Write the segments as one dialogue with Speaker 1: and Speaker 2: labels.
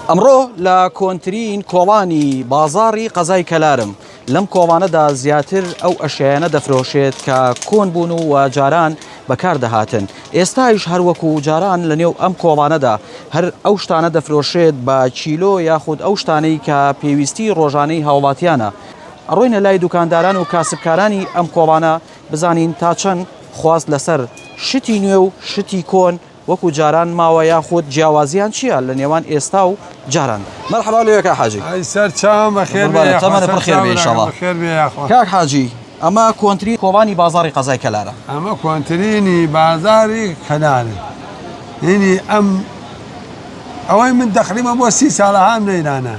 Speaker 1: ئەمڕۆ لە کۆنترین کۆڵانی بازاڕی قەزای کەلارم، لەم کۆڵانەدا زیاتر ئەو ئەشیایانە دەفرۆشێت کە کۆن بوون و جاران بەکار دەهاتن، ئێستایش هەر وەکو جاران لە نێو ئەم کۆڵانەدا هەر ئەو شتانە دەفرۆشرێت بە کیلۆ یاخود ئەو شتانەی کە پێویستی ڕۆژانەی هاوڵاتیانە، ئەڕۆینە لای دوکانداران و کاسبکارانی ئەم کۆڵانە بزانین تا چەند خواست لەسەر شتی نوێ و شتی کۆن وەکو جاران ماوە یاخود جیاوازیان چیە لە نێوان ئێستا و جاراندا. مەرحەبا لۆیێ کاک حاجی. ئەی سەر چاوم بەخێر
Speaker 2: بێی یاخوا. قوربانت تەمەنت پڕ خێر بێ ان شاءاللە.
Speaker 1: بەخێر بێی یاخوا. کاک حاجی ئەمە کۆنترین کۆبانی بازاڕی قەزای کەلارە. ئەمە کۆنترینی
Speaker 2: بازاری کەلارە هینی ئەم ئەوەی من تەقریبەن بۆ سی ساڵە هام لەیرانە.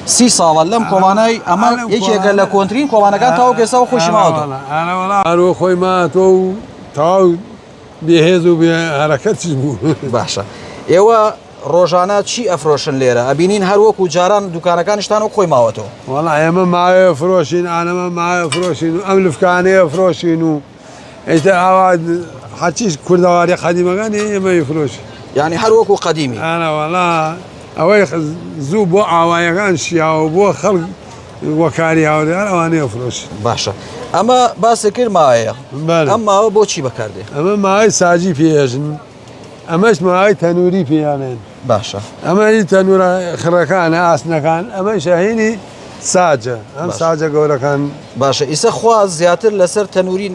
Speaker 1: سی ساڵە لەم کۆڵانای ئەمە یەکێکە لە کۆنترین کۆڵانەکان تاوەکو ئێستا خۆشی ماوەتەوە. ئەرەوەڵا ئەرۆ خۆی
Speaker 2: ماتۆ و تەواو. بێهێز و بێ هەرەکەتیش بوو. باشە
Speaker 1: ئێوە ڕۆژانە چی ئەفرۆشن لێرە ئەبینین هەر وەکو جاران دوکانەکانیشتان و خۆی ماوەتەوە وەڵا ئێمە ماوەیە
Speaker 2: فرۆشین ئانەمە ماوە فرۆشین و ئەم لفکانەیە فرۆشین و ئیتە ئاوا هەرچیش کوردەواری قەدیمەکانی ئێمەی فرۆش یعنی هەر وەکو
Speaker 1: قەدیمی
Speaker 2: ئەوەی زوو بۆ ئاوایەکان شیاوە بۆ خەڵک وەکاری هاوریان ئەوانەیە فرۆشت باشە ئەمە
Speaker 1: باسێ کرد ماوەیە ئەم ماوە بۆچی بەکاردێ ئەمە ماوەی ساجی
Speaker 2: پێژن ئەمەش ماوەی تەنووری پێیانێن باشە ئەمە
Speaker 1: هی تەنورە
Speaker 2: خڕەکانە ئاسنەکان ئەمە شەهینی ساجە ئەم ساجە گەورەکان باشە ئیسە
Speaker 1: خواز زیاتر لەسەر تەنووری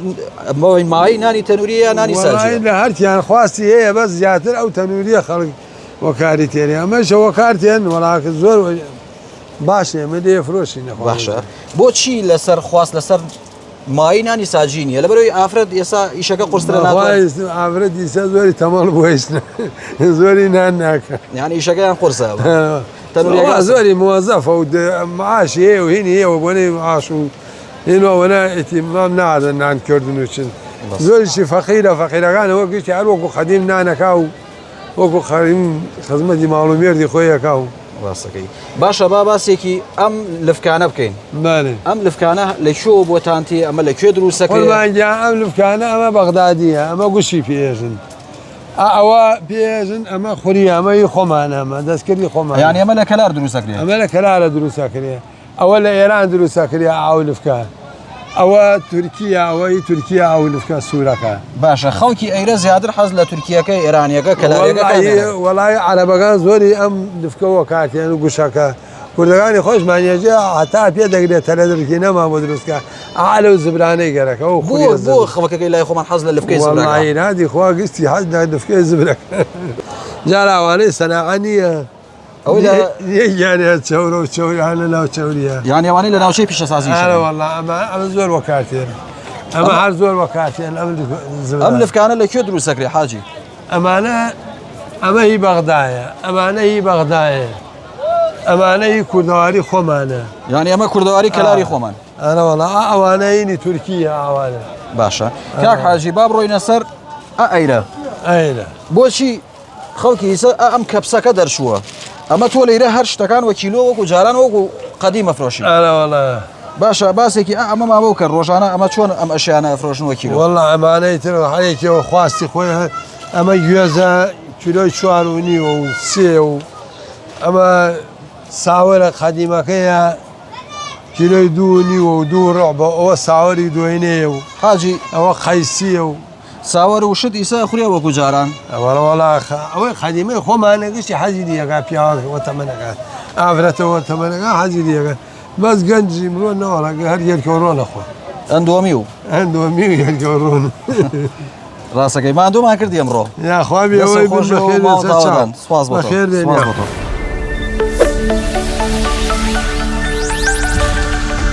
Speaker 1: ئەمەوەی مای نانی تەنووری یا نانی ساجی لە هەرکیان خواستی
Speaker 2: هەیە بە زیاتر ئەو تەنووریە خەڵک وەکاری تێنێ ئەمەشەوە کارتێن وەڵاکە زۆر باشە ئێمە دێ فرۆشینە باشە
Speaker 1: بۆچی لەسەر خواست لەسەر مای نانی ساجی نیە لە بەرەوەی ئافرەت ئێسا ئیشەکە قرسرە ئافرەت ئیسا
Speaker 2: زۆری تەمەڵ بۆیشت زۆری نان ناکە یان ئیشەکەیان قرسە
Speaker 1: تەنورەکە
Speaker 2: زۆری موەزەفە و معاشی هەیە و هینی هەیەوە بۆنەی معاش و هێنەوەنا ئتیمام نادە نانکردن و چن زۆریشی فەقیرە فەقیرەکانەوە گشتی هەروەکو قەدیم نانەکە و وەکو قەریم خزمەتی ماڵ و مێردی خۆی ئەکا و. ڕاستەکەی
Speaker 1: باشە با باسێکی ئەم لفکانە بکەین بەێ ئەم لفکانە لە کوێوە بۆتانتی ئەمە لە کوێ دروستەکە قوربانگیا ئەم لفکانە
Speaker 2: ئەمە بەغدادیە ئەمە گوشی پێژن ئەوە پێژن ئەمە خوری ئەمەی خۆمانە ئەمە دەستکردی خۆمان یان ئەمە لە کەلار دروستەکرێ
Speaker 1: ئەمە لە کەلارە
Speaker 2: دروستەکرێ ئەوە لە ئێران دروستە کریا ئاو نفکە ئەوە تورکیە ئەوە ی تورکیە ئەو نفکە سورەکە. باشە خەڵکی
Speaker 1: ئەیرە زیاتر حەز لە تورکیەکەی ئێرانیەکە کەلارێگەکە دەنێن. وەڵایی وەڵایی عەرەبەکان
Speaker 2: زۆری ئەم نفکە وەکارتێنن و گوشەکە کوردەکانی خۆشمان یەجێ هەتا پێ دەگرێ تەلەدرکی نەمان بۆ دروستکە ئا لەو زبرانەی گەرەکە و خوری زبر. بۆ بۆ خەڵکەکەی
Speaker 1: لای خۆمان حەز لە لفکەی زبرەکە. وەڵایی نادی خوا گستی
Speaker 2: حەز لە نفکەی زبرەکە جارا ئەوانەی سەناعە نیە. یانەوانی لە ناوچەی
Speaker 1: پیشەسازی زۆر وەکاتێن ئەمە هەر
Speaker 2: زۆر وەکاتێن ئەم
Speaker 1: لفکانە لە کوێ دروستەکرێ حاجی ئەمانە
Speaker 2: ئەمە هی بەغدایە ئەمانە هی بەغدایە ئەمانە هی کوردەواری خۆمانە یانی ئەمە کوردەواری
Speaker 1: کەلاری خۆمان ئەرەوەڵا
Speaker 2: ئەوانەینی تورکیە ئاوانە باشە
Speaker 1: کاک حاجی باب ڕۆینە سەر ئەیرە ئەیرە بۆچی خەڵکی سە ئەم کەپسەکە دەرچووە ئەمە تۆ لەیرە هەر شتەکان وە کیلۆ وەکو جاران وەکو قەدی مەفرۆشی باشە باسێکی ئەمە مامەوە کە ڕۆژانە ئەمە چۆن ئەم ئەشیانە فرۆشنەوە کیلۆ وەڵا ئەمانەی تر
Speaker 2: حەیەکەوە خواستی خۆی ئەمە گوێزە کیلۆی چوار و نیوە و سێ و ئەمە ساوەرە قەدیمەکەیە کیلۆی دوو نیوە و دوو ڕۆ بە ئەوە ساوەری دوێنێ و حاجی ئەوە
Speaker 1: قەیسیە
Speaker 2: و ساوەر و شت
Speaker 1: ئیسە ئەخورێ وەکو جاران. وەڵا وەڵا خە
Speaker 2: ئەوەی قەدیمەی خۆمانە گشتی حەزی لێ ئەکا پیاوەک وە تەمەنەکە ئافرەتە وە تەمەنەکە حەزی لێ ئەکا بەس گەنجی مرۆ نەوە ڕەنگە هەر یەلکە و ڕۆنە خۆ ئەندۆمی و
Speaker 1: ئەندۆمی و یەلکە و
Speaker 2: ڕۆن.
Speaker 1: ڕاست ئەکەی ماندوومان کردی ئەمڕۆ. یاخوا بێ ئەوەی بن
Speaker 2: بە خێر بێن سەر چاو.
Speaker 1: سپاس بۆ تۆ. بە خێر بێن یاخوا.